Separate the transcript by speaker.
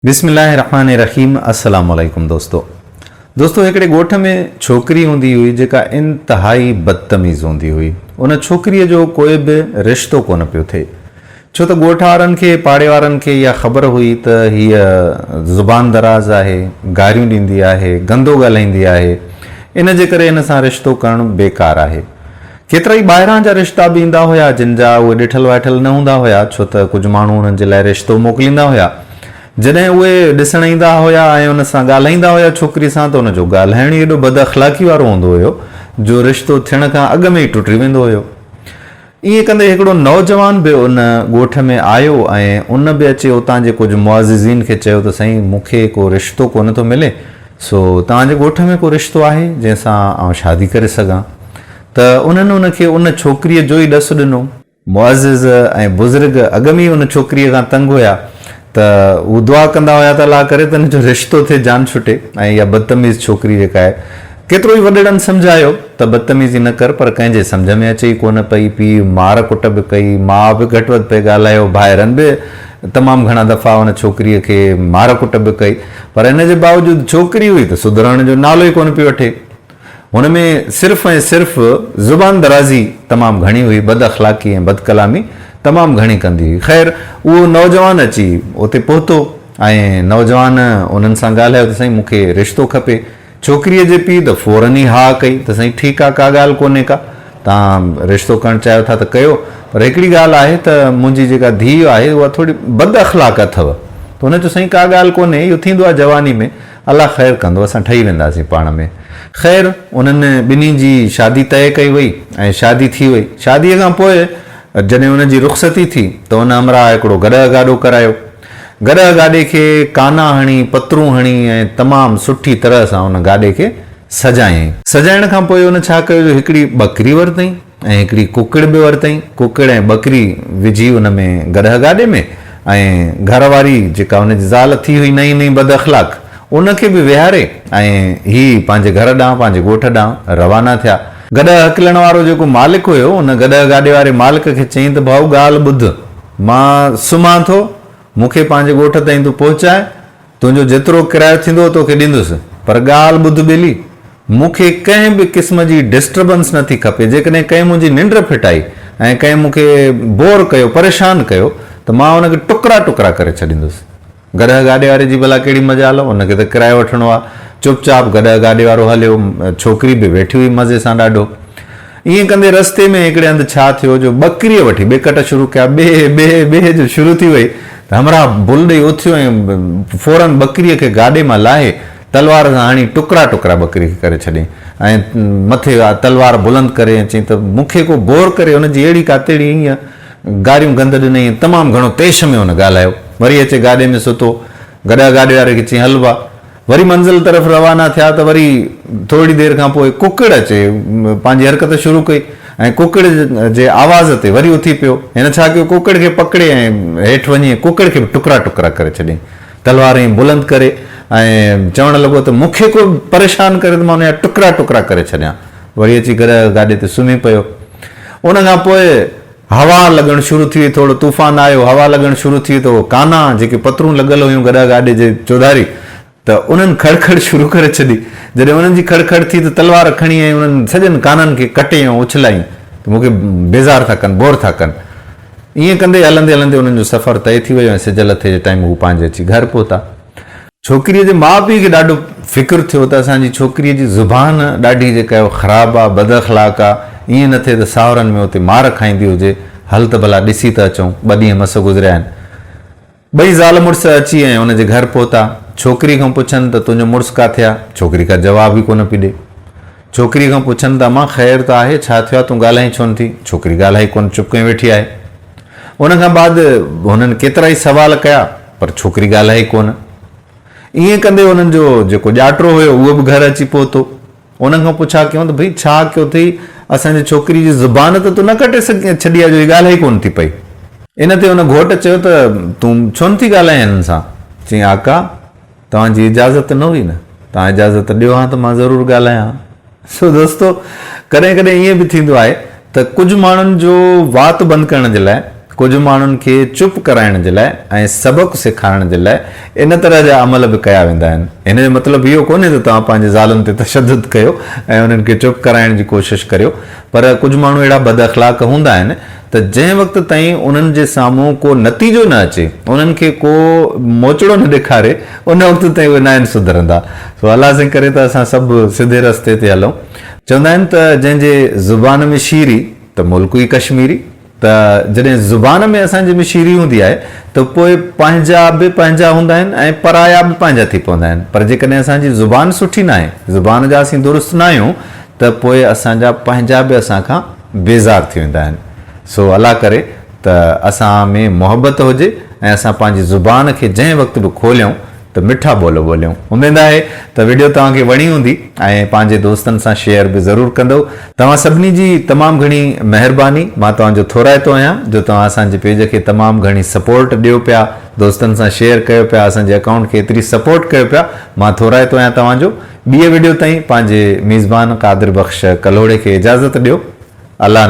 Speaker 1: بسم الله الرحمٰن الرحيم السلام عليڪم دوستو دوستو هڪڙي ڳوٺ ۾ ڇوڪري هوندي هئي جيڪا انتهائي بدتميز هوندي هئي ان ڇوڪري جو ڪوئي به رشتو ڪونه پيو ٿئي ڇو ته ڳوٺ وارن کي پاڙي وارن کي اها خبر هئي ته هيء زبان دراز آهي گاريون ڏيندي آهي گندو ڳالهائيندي آهي ان جي ڪري هن سان رشتو ڪرڻ بيڪار آهي ڪيترائي ٻاهران جا رشتا به ايندا هيا، جن جا اهي ڏٺل وائٺل نه هوندا هيا، ڇو ته ڪجهه ماڻهو انهن جي لاء رشتو موڪليندا هيا. جڏهن اهي ڏسڻ ايندا هيا ۽ ان سان ڳالهائيندا هيا ڇوڪري سان ته ان جو ڳالهائڻ ئي ايڏو بد اخلاقي وارو هوندو هيو جو رشتو ٿيڻ کان اڳ ۾ ئي ٽٽي ويندو هيو. ائين ڪندي هڪڙو نوجوان به ان ڳوٺ ۾ آيو ۽ ان به اچي اتان جي ڪجهه معززين کي چيو ته سائين مون کي ڪو رشتو ڪونه ٿو ملي، سو توهان جي ڳوٺ ۾ ڪو رشتو آهي، جنهن سان آئون شادي ڪري سگهان؟ ته انهن ان کي ان ڇوڪريء جو ئي ڏس ڏنو. معزز ۽ بزرگ اڳ ۾ ئي ان ڇوڪريء کان تنگ هيا، ته هو دعا ڪندا هيا ته الله ڪري ته هن جو رشتو ٿئي، جان ڇٽي ۽ اها بدتميز ڇوڪري جيڪا آهي. ڪيترو ئي وڏڙن سمجهايو ته بدتميزي نه ڪر، پر ڪنهن جي سمجهه ۾ اچي ئي ڪونه پئي. پيء مار ڪٽ به ڪئي، ماء به گهٽ وڌ پئي ڳالهايو، ڀائرن به. تمام گهڻا دفعا ان ڇوڪريء کي مار ڪٽ به ڪئي، پر ان جي باوجود ڇوڪري هئي ته سڌرڻ جو نالو ئي ڪونه پئي وٺي. هن ۾ صرف ۽ صرف زبان درازي تمام گهڻي هئي، بد اخلاقي ۽ بد ڪلامي تمام گهڻي ڪندي هئي. خير، اهو نوجوان اچي اتي پهتو ۽ نوجوان انهن سان ڳالهايو ته سائين مون کي رشتو کپي. ڇوڪريء جي پيء ته فورن ئي ها ڪئي ته سائين ٺيڪ آ، ڪا ڳالهه ڪونهي ڪا، توهان رشتو ڪرڻ چاهيو ٿا ته ڪيو، پر هڪڙي ڳالهه آهي ته منهنجي جيڪا ڌيء آهي اها ٿوري بد اخلاق اٿو، ته هن چيو سائين ڪا ڳالهه ڪونهي، اهو ٿيندو آ جواني ۾، الله خير ڪندو، اسان ٺهي وينداسين پاڻ ۾. خير انهن ٻنهي جي شادي طئي ڪئي وئي ۽ شادي ٿي وئي، شاديء کان پوء جڏهن ان جي رخصتي ٿي ته ان همراهه هڪڙو گڏهه گاڏو ڪرايو، گڏهه گاڏي کي ڪانا هڻي، پترون هڻي ۽ تمام سٺي طرح سان ان گاڏي کي سجايائين. سجائڻ کان پوء هن ڇا ڪيو جو هڪڙي ٻڪري ورتئين ۽ هڪڙي ڪڪڙ به ورتئين. ڪڪڙ ۽ ٻڪري وجهي ان ۾ گڏهه گاڏي ۾ ۽ گهر واري جيڪا هن جي زال ٿي هئي نئين نئين بد اخلاق ان کي به ويهاري ۽ هي پنهنجي گهر ڏانهن پنهنجي ڳوٺ ڏانهن روانا ٿيا. گڏهه هڪلڻ وارو جيڪو مالڪ هيو ان گڏهه گاڏي واري مالڪ کي چيائين ته ڀائو ڳالهه ٻڌ. مان سمهان ٿو، مون کي پنهنجي ڳوٺ تائين تون پهچاء، تنهنجو جيترو ڪرايو ٿيندو توکي ڏيندس، پر ڳالهه ٻڌ ٻيلي، مون کي ڪنهن به قسم جي ڊسٽربنس نه ٿي کپي، جيڪڏهن ڪنهن منهنجي ننڊ ڦٽائي ۽ ڪنهن مون کي بور ڪيو، پريشان ڪيو ته مان ان کي ٽڪرا ٽڪرا ڪري ڇڏيندس. گڏهه گاڏي واري جي ڀلا ڪهڙي مجال هو، هن کي ته ڪرايو وٺڻو آ. چپ چاپ گڏهه گاڏي وارو هليو. ڇوڪري به ويٺي هئي مزي سان ڏاڍو. ائين ڪندي رستي ۾ هڪڙي هنڌ ڇا ٿيو جو ٻڪريء وٺي ٻه ڪٽ شروع ڪيا، بي بي بي جو شروع ٿي وئي ته همراهه بل ڏئي اٿيو ۽ فورن ٻڪريء کي گاڏي مان لاهي تلوار سان هڻي ٽڪرا ٽڪرا ٻڪري کي ڪري ڇڏيائين ۽ مٿي تلوار بلند ڪري ۽ چيائين ته مون کي ڪو بور ڪري هن جي اهڙي ڪاتيڙي ائين گاريون گند ڏنئين ۽ تمام گهڻو طيش ۾ هن ڳالهايو. وري اچي گاڏي ۾ ستو. گڏا گاڏي واري کي چيائين، هلبا. وري منزل طرف روانا ٿيا ته وري ٿورڙي دير کان پوء ڪڪڙ اچي پنهنجي حرڪت شروع ڪئي ۽ ڪڪڙ جي آواز تي وري اٿي پيو. هن ڇا ڪيو، ڪڪڙ کي پڪڙي ۽ هيٺ وڃي ۽ ڪڪڙ کي به ٽڪرا ٽڪرا ڪري ڇڏيائين. تلوار ائين بلند ڪري ۽ چوڻ لڳو ته مون کي ڪو پريشان ڪري ته مان ان جا ٽڪرا ٽڪرا ڪري ڇڏيان. وري اچي گرهه گاڏي تي سمهي پيو. ان کان پوء هوا لڳڻ شروع ٿي وئي. ٿورڙو طوفان آيو، هوا لڳڻ شروع ٿي وئي ته اهو ڪانا جيڪي پترون لڳل هيون گرهه گاڏي جي چوڌاري ته انهن کڙ کڙ شروع ڪري ڇڏي. جڏهن انهن جي کڙ کڙ ٿي ته تلوار کڻي ائين انهن سڄن ڪانن کي ڪٽي ۽ اڇلايائين ته مون کي بيزار ٿا ڪن، بور ٿا ڪن. ائين ڪندي هلندي هلندي انهن جو سفر طئي ٿي ويو ۽ سج لٿي جي ٽائيم هو پنهنجي اچي گهر پهتا. ڇوڪريء جي ماء پيء کي ڏاڍو فڪر ٿيو ته اسان جي ڇوڪريء جي زبان ڏاڍي جيڪا اهو خراب آ، بد اخلاق آ، ائين نه ٿئي ته ساهرن ۾ اتي مار کائيندي هجي، هل ته ڀلا ڏسي ته اچون. ٻه ڏينهن مس گذريا آهن. ٻئي زال مڙس اچي ۽ ان جي گهر پهتا. ڇوڪريء کان پڇن ته تنهنجو مڙس ڪاٿي آ؟ ڇوڪري ڪا جواب ئي ڪونه پئي ڏي. ڇوڪريء کان پڇن ته امان خير ته آهي، ڇا ٿيو آهي، تون ڳالهائين ڇو نه ٿي؟ ڇوڪري ڳالهائي ڪونه، چپ ڪئي ويٺي آهي. ان کان بعد هنن ڪيترائي سوال ڪيا، پر ڇوڪري ڳالهائي ڪونه. ائين ڪندي هنن جو جيڪو ڄاٽرو هيو، اهو به گهر اچي پهتو. ان کان پڇا ڪيون ته ڀئي ڇا ڪيو اٿئي، اسان جي ڇوڪريء جي زبان ته تو نه ڪٽي ڇڏي آهي جو هي ڳالهائي ڪونه ٿي پئي. ان تي هن گهوٽ چيو ته تون ڇو نه ٿي ڳالهائين هنن سان؟ چيائين آقا! توهان جي اجازت نه هئي نه؟ توهان اجازت ڏيو هان ته مان ضرور ڳالهايان هان. سو دوستو ڪڏهن ڪڏهن ائين به ٿيندو آهي ته ڪجهه ماڻهن جو وات بند ڪرڻ جي لاء، ڪجهه ماڻهن کي چپ ڪرائڻ جي لاء ۽ سبق سيکارڻ جي لاء ان طرح جا عمل به ڪيا ويندا آهن. هن جو مطلب اهو ڪونهي ته توهان پنهنجي زالن تي تشدد ڪيو ۽ انهن کي چپ ڪرائڻ جي ڪوشش ڪريو پر ڪجهه ماڻهو اهڙا بد اخلاق هوندا آهن ته جنهن وقت تائين انهن جي سامهون ڪو نتيجو نه اچي، انهن کي ڪو موچڙو نه ڏيکاري، ان وقت تائين اهي ناهن سڌرندا. سو الله سائين ڪري ته اسان سڀ سڌي رستي تي هلون. چوندا آهن ته جنهن جي زبان ۾ شيري ته ملڪ ئي ڪشميري. ته جڏهن زبان ۾ اسان جي ۾ شيري هوندي آهي ته پوء پنهنجا به پنهنجا هوندا آهن ۽ پرايا به پنهنجا ٿي پوندا آهن. پر جيڪڏهن اسان جي زبان سٺي ناهي، زبان جا اسين درست ناهيون ته پوء اسان جا پنهنجا به اسان کان. بيزار ٿي ويندا آهن سو الله ڪري ته اسان ۾ محبت هجي ۽ اسان پنهنجي زبان کي جنهن وقت به کوليون ته مٺا ٻول ٻوليون. اميد آهي ته وڊيو توهان کي وڻي هوندي ۽ پنهنجي دوستن سان شيئر به ضرور ڪندؤ. توهان سڀني جي تمام گهڻي مهرباني مان توهان جو ٿورائتو آهيان جو توهان اسان جي پيج کي تمام گهڻي سپورٽ ڏيو پيا دوستن سان شيئر ڪيو پيا اسان جي اڪائونٽ کي ايتري سپورٽ ڪيو پيا مان ٿورائتو آهيان توهان جو. ٻيء وڊيو تائين پنهنجي ميزبان قادر بخش ڪلهوڙي کي اجازت ڏيو الله